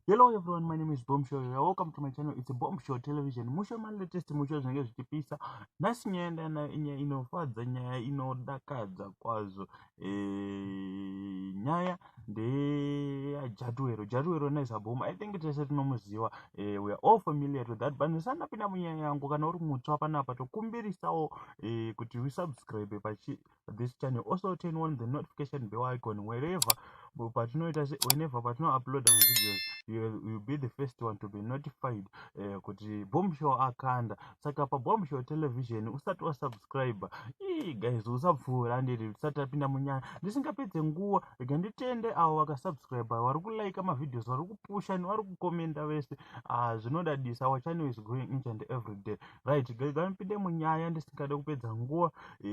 hello everyone my name is bomb show you're welcome to my channel it's a bomb show television musho ma latest musho zvinenge zvichipisa nhasi nyaya ndana nyaya inofadza nyaya inodakadza kwazvo Eh, nyaya ndeyajatuwero jatuwero nezaboma i think tese tinomuziva eh, weare all familiar to that but ndisanapinda munyaya yangu kana uri mutswa panapa tokumbirisawo eh, kuti usubscribe pachithis channel also turn on the notification bell icon wherever patinoita se whenever patinouploada mavideos you'll be the first one to be notified eh, kuti bom show akanda saka pabombshel television usati wasubscribe ii guys usapfuura ndiri tisati tapinda munyaya ndisingapedze nguva rega nditende avo vakasubscribe vari kulaika mavideos vari kupusha nevari kukomenda vese ah, zvinodadisa our channel is growing each and every day right rega ndipinde munyaya ndisingade kupedza nguva e,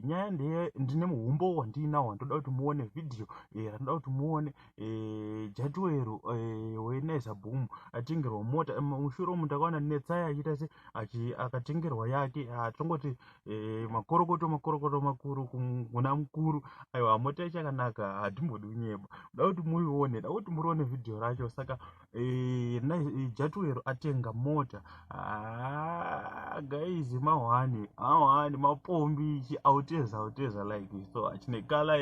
nyaya ndeye ndine muhumbo wandiinawo ndoda kuti muone video e, eh, randoda kuti muone Eh, jatuwero eh, wenaiza boom atengerwa mota eh, mushure umu ndakaona netsaya achiita se akatengerwa yake atongoti ah, makorokoto makorokoto makuru kuna mukuru aiwa mota yachakanaka hatimbodi unyeba da kuti muione da kuti murione vhidhiyo racho saka Eh, eh, jatuwero atenga mota ah, guys mahwani mahwani mapombi ichi auteza auteza like so achine kala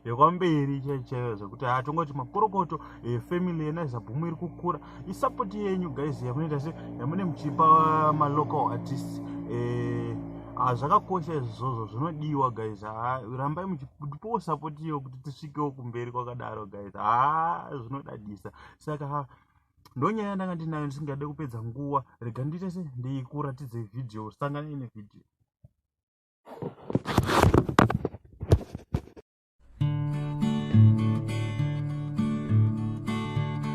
yekwamberi chaichaiyo zvekuti hatongoti ah, makorokoto eh, family yena izabhumu iri kukura isapoti yenyu guys yamunoita se yamune muchipa malocal artist zvakakosha izvozvo zvinodiwa guys ah, rambai muchipowo sapoti iyo kuti tisvikewo kumberi kwakadaro guys haa zvinodadisa saka ha ndonyaya ndanga ndinayo ndisingade kupedza nguva rega ndiite se ndikuratidze vhidhiyo sangana ine vhidhiyo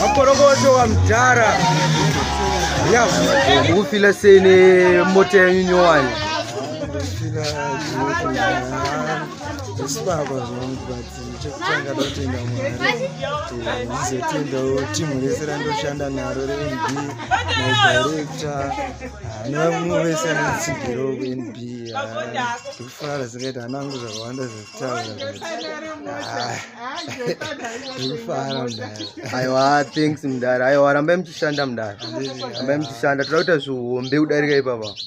makorokoto wamdhara ya ukufila sei nemota yenyu nyowani zvesibaba zvangu but chekutanga ndotenda mwari ndizotendawo timu rese randoshanda naro renb nadirekta nevamwe vese anotsigiro kunb ndikufara zikaita hana angu zvakawanda zvekutaura ndikufara mdara aiwa thanks mdara aiwa rambai muchishanda mdara rambai muchishanda toda kuita zvihombe kudarika ipapa